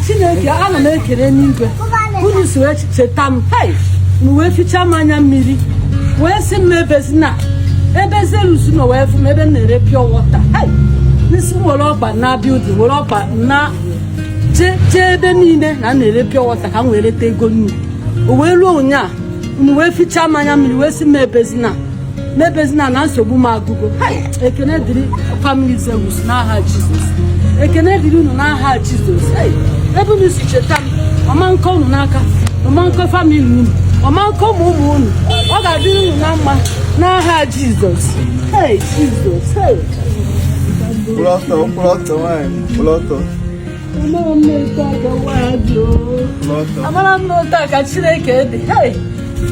chineke ana m ekele n'igwe unu si wee cheta m hei m wee fichaa m anya mmiri wee sị m ebezina ebe Zeus nọ wee fụ m ebe m na-ere pure water hei n'isi m were ọkpa na building were ọkpa na jee jee ebe niile na a na-ere pure water ka m wee reta ego nnu o wee ruo ụnyaa unu wee fichaa m anya mmiri wee sị m ebezina m ebezina na nsogbu m agụgo ekene dịrị family Zeus n'aha jizọs ekene dịrị unu n'aha jizọs ebe unu si cheta m ọ ma nkọ unu n'aka ọ ma nkọ family unu ọ ma nkọ ụmụ ụmụ unu ọ ga-adịrị unu na mma n'aha jizọs jizọs mkpụrụ ọtọ mkpụrụ ọtọ nwaanyị mkpụrụ ọtọ amarọ m na otu a ka chineke dị Hey!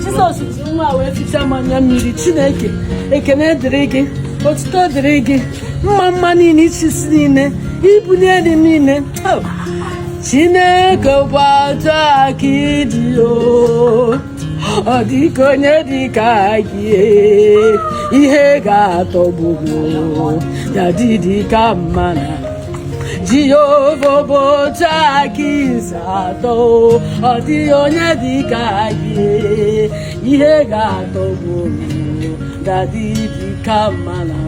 jizọs ji nwa wee ficha m anya mmiri chineke ekene dịrị gị otuto dịrị gị mma mma niile ịchị isi niile ibuli elu niile Oh! chineke bụ otu a ka ị dị o ọ dịghị onye dị ka gị ihe ga-atọgbu ya dị dị ka mmanụ jehova bụ otu a ka i si atọ ọ dịghị onye dị ka gị ihe ga-atọgbu ya dị dị ka mmanụ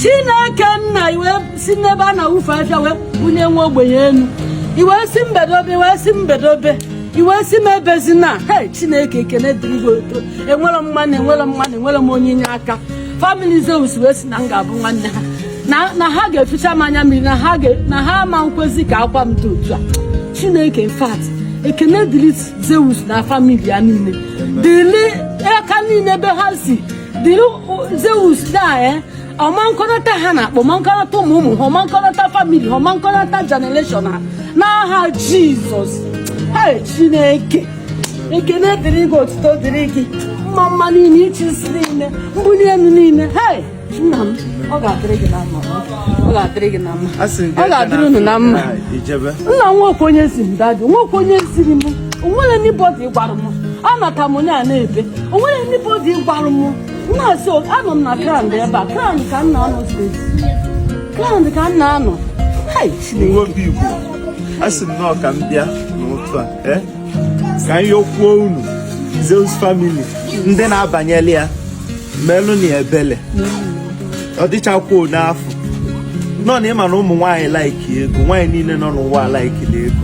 chineke nna i wee si n'ebe a na-awụfu afịfịa wee bunye nwa ogbenye elu i wee sị m bedobe i wee sị m bedobe i wee sị m ebezina hei chineke ekene dịrị gị oto enwerọ m nwanne enwerọ m nwanne enwerọ m onye inye aka family Zeus wee sị na m ga-abụ nwanne ha na na ha ga-eficha m anya mmiri na ha ga- na ha ama nkwezi ka akwa m dị otu a chineke in fact ekene dịrị zeus na family ya niile dịrị aka niile ebe ha si dịrị zeus na ọ ma nkọnata ha n'akpa ọ ma nkọnata ụmụ ụmụ ha ọ ma nkọnata family ha ọ ma nkọnata generation ha n'aha jizọs hei chineke ekene dịrị gị otuto dịrị gị mma mma niile ịchị isi niile mbuli elu niile hei nna m ọ ga-adịrị gị na mma ọ ga-adịrị gị na mma ọ ga-adịrị unu na mma nna m nwoke onye si m dadi nwoke onye siri m o nwerọ anybody gwara m anata m onye a na-ebe o nwerọ anybody gwara m nna so anọ m na ground ebe a ground ka m na-anọ steady ground ka m na-anọ obi igbo asị m no ka m bịa n'ụtụtụ a eh? ka m yọkwuo unu Zeus family ndị na-abanyela ya melụ na ebele ọ dịchakwuo n'afọ nọ na ịma na ụmụ nwaanyị like ego nwaanyị niile nọ n'ụwa likeli ego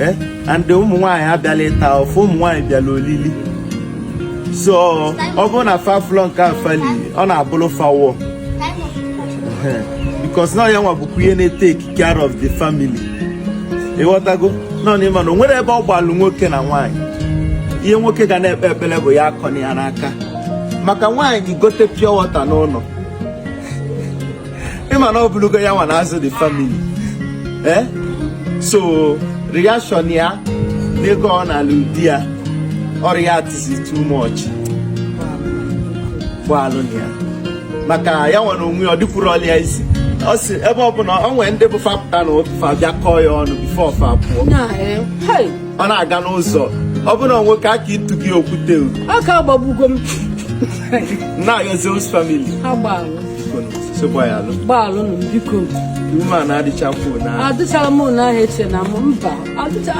eh? and ụmụ nwaanyị abịarọ ịta afụfụ ụmụ nwaanyị bịalụ olili so ọ bụrụ na fa afụrọ nke a fa li ọ na-abụrụ fa war because na ya nwa bụkwa ihe na-etake care of the family ịghọtago nọ n'ịma na o nwere ebe ọ gbalụ nwoke na nwaanyị ihe nwoke ga na-ekpe ekpere bụ ya akọna ya n'aka maka nwaanyị gote pure water n'ụlọ ịma na ọ bụrụgo ya nwa na-azụ the family eh? so reaction ya n'ego ọ nalụ di ya ọ reactisi too much gbaalụnụ ya maka ya nwa onwe ọ dịkwuru ọlịa isi ọ sị ebe ọ bụla ọ nwere ndị bụ fapụta na ofa bịa kọọ ya ọnụ before fa pụọ ọ na-aga n'ụzọ ọ bụrụ na nwoke aka ịtụ gị okwute aka agbagbugo m na-ayọ zeus family gbaalụnụ m biko adịchara m ụlọ ahụ eche na m mba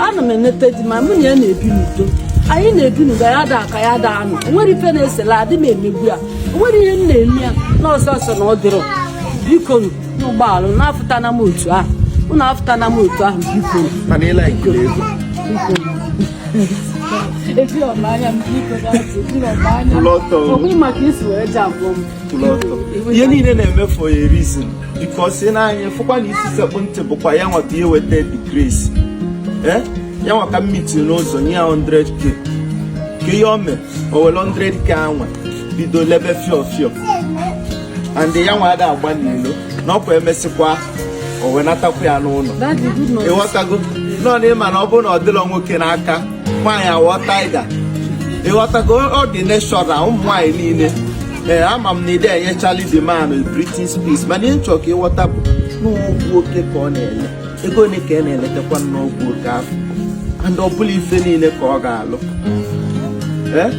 ana m enete di ma mụ na ya na-ebi n'udo anyị na-ebi n'udo ya da aka ya da anụ onwere ife na-esela adị m emegbu ya onwere ihe m na-eme ya na ọsọsọ na ọ dịrọ biko unu gbaalụ unu afụtana m otu ahụ unu afụtana m otu ahụ biko ebi ọma anya m biko ọkwa maka isi wee ji abụọ m kwụrụ ọtọ ihe niile na-eme for a reason because na anyị fụkwa na isi sekpụ ntị bụkwa ya nwata ihe weta the grace eh? ya nwa ka m meet n'ụzọ nye ya 100k kee ihe o mee o were 100k a nwa bido lebe fio fio and ya nwa ada agba n'ilo na ọkwa emesịkwa o wenatakwa ya n'ụlọ ịghọtago nọ na ịma na ọ bụrụ na ọ dịrọ nwoke n'aka nwaanyị awọọ tiger ịghọtago ọ dị natural ụmụ nwaanyị niile ee ama m na ị dị enyechali the man breathing space mana ihe m chọ ka ịghọta bụ n'ọgwụ oke ka ọ na-ele ego ole ka ị na-eletakwa n'ọgwụ oke afụ and ọ bụrọ ife niile ka ọ ga-alụ ee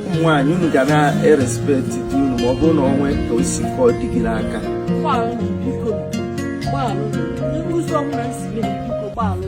ụmụ nwaanyị unu ga na-erespekt di unu ma ọ bụrụ na o nwee ka o si ka ọ dị gị n'aka Gbalụ, biko, gbalụ. Ndị ụzọ ọbụla m si mee, biko, gbalụ.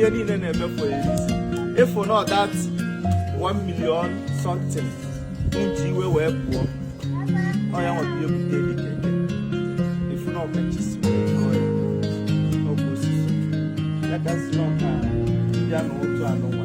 ihe niile na-eme for a reason if not that 1 million something m ji iwe wee pụọ ọ ya nwata ihe bute the keke if not ọkachisi ọkụ osisi ya gasị n'ọka ya na otu anụnwa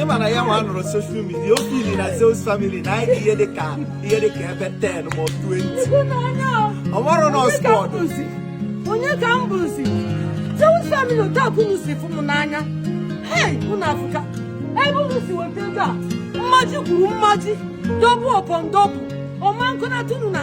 ị ma na ya nwa nọrọ social media o feel na zeus family na anyị ihe dị ka ihe dị ka ebe 10 ma ọ 20 ọ marọ na squad onye ka m bụzi zeus family otu a unu si fụ m n'anya hei unu afụka ebe unu si weta ego a mmaji kwuru mmaji double upon double ọma nkụnatụ unu na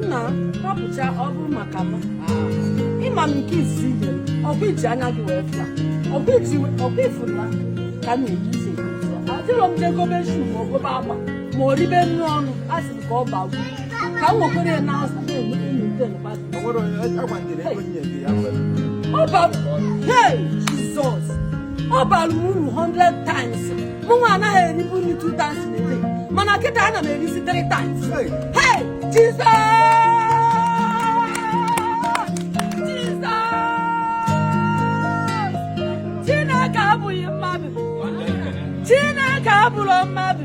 nna hapụcha ọ bụ maka m ị ma m nke izizi ihe m ọkwa iji anya gị wee fụla ọkwa ifụla ka m na-eji ise adịrọ m je gobe shoe ma ọ gobe agba ma o ribe nri ọnụ a sị m ka ọ bagwu ka m nwekwere ya n'azụ na-enweta ọ bara uru 100 times mụnwa anaghị eribu nri 2 times a day mana kịta ana m erizi 3 times hey Jesus Chineke abụrọ mmadụ Chineke abụrọ mmadụ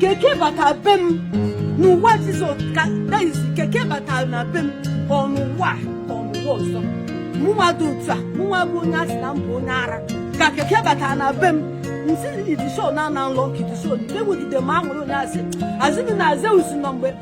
keke bata be m n'ụwa Jesus ka that is keke batara na be m ka ọ n'ụwa a, ka ọ n'ụwa ọzọ mụnwa dị otu a mụnwa bụ onye a sị na m bụ onye ara ka keke batara na be m nsị idishon na-ana nlọ ka idishon na-enwegide m aṅụrụ onye asị azịnị na zeus nọ mgbe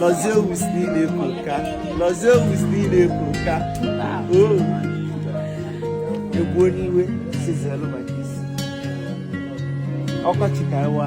Lọzie owusi niile ebu nka. Lọzie owusi niile ebu nka. Oo. Egbu onye iwe sizelu maka isi. Ọkọchị ka ewa.